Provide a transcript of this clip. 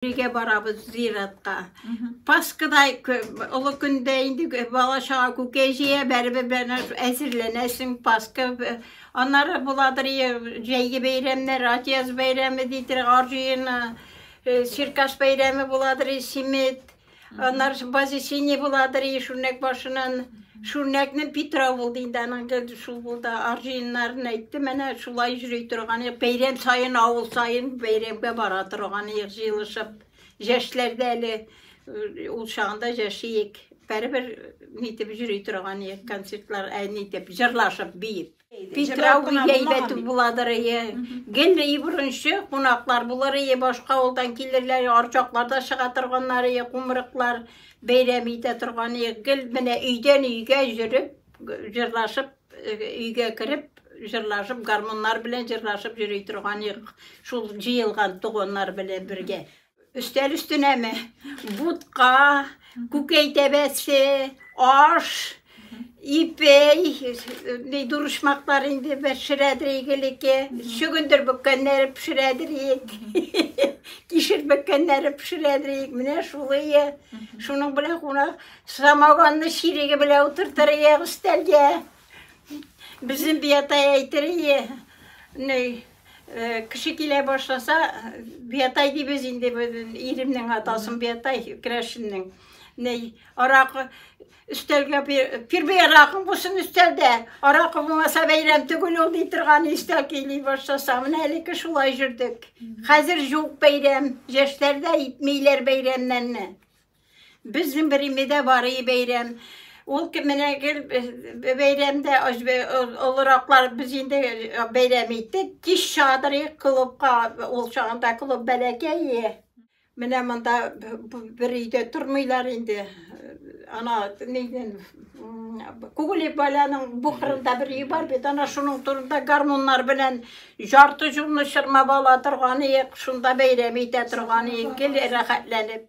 Өйгә барабыз зиратка. Пасхада олы көндә инде бала чага күкәй җыя, бәребер белән әзерләнәсең Пасха. Аннары буладыр җәйге бәйрәмнәр, Атияз бәйрәме дидер, Арҗыена, Черкас бәйрәме буладыр, Симет. Аннары ш- базе синий буладыр, и шүрнәк башынан. Шүрнәкне Питрау булды инде аның гел шул булды. Арҗыеннарын әйтте, менә шулай йөри торган. Ек Бәйрәм саен, авыл саен бәйрәмгә бара торган ек җыелышып. Җәшләрдә әле э, ул чагында җәшиек. Бәребер нитеп йөри торган ек концертлар, ә нитеп җырлашып, биеп. Питрау гүя әйбәт буладыр, әйе. Гел и борынчы кунаклар булыр, әйе, башка авылдан килерләр, арчакларда чыга торганнар, әйе, кумырыклар бәйрәм итә торган, әйе. Гел менә өйдән өйгә җөреп, җырлашып, өйгә кереп, җырлашып, гармуннар белән җырлашып йөри торган, әйе, шул җыелган туганнар белән бергә. Өстәл өстенәме? Бутка, күкәй тәбәсе, аш, ипей, ни дурышмаклар инде пешерәдер игелеке, чөгендер бөккәннәре пешерәдер ик, кишер бөккәннәре пешерәдер ик, менә шулые. Шуның белән кунак самогонны чиреге белән утыртыр ия өстәлгә. Безнең биятая әйтер ия. Ней, Кеше килә башласа, Биятай дибез инде иремнең атасын Биятай керәшеннең. Ней, аракы өстәлгә пирбей аракың булсын өстәлдә. Аракы булмаса бәйрәм түгел ул ди торган өстәл кили башласа. Менә әлеге шулай жүрдек. Хәзер юк бәйрәм. Яшьләрдә итмиләр бәйрәмнәрне. Безнең Беримедә бар и бәйрәм. Ул кеменә гел бәйрәмдә олыраклар без инде бәйрәм иттек. Кич чыгадырык клубка. Ул чагында клуб бәләкәй. Менә монда бер өйдә тормыйлар инде. Ана нидән Күгелек баланың бу кырында бер өй бар бит, ана шуның турында гармуннар белән ярты җурны чырмап ала торган иек, шунда бәйрәм итә торган иек, гел рәхәтләнеп.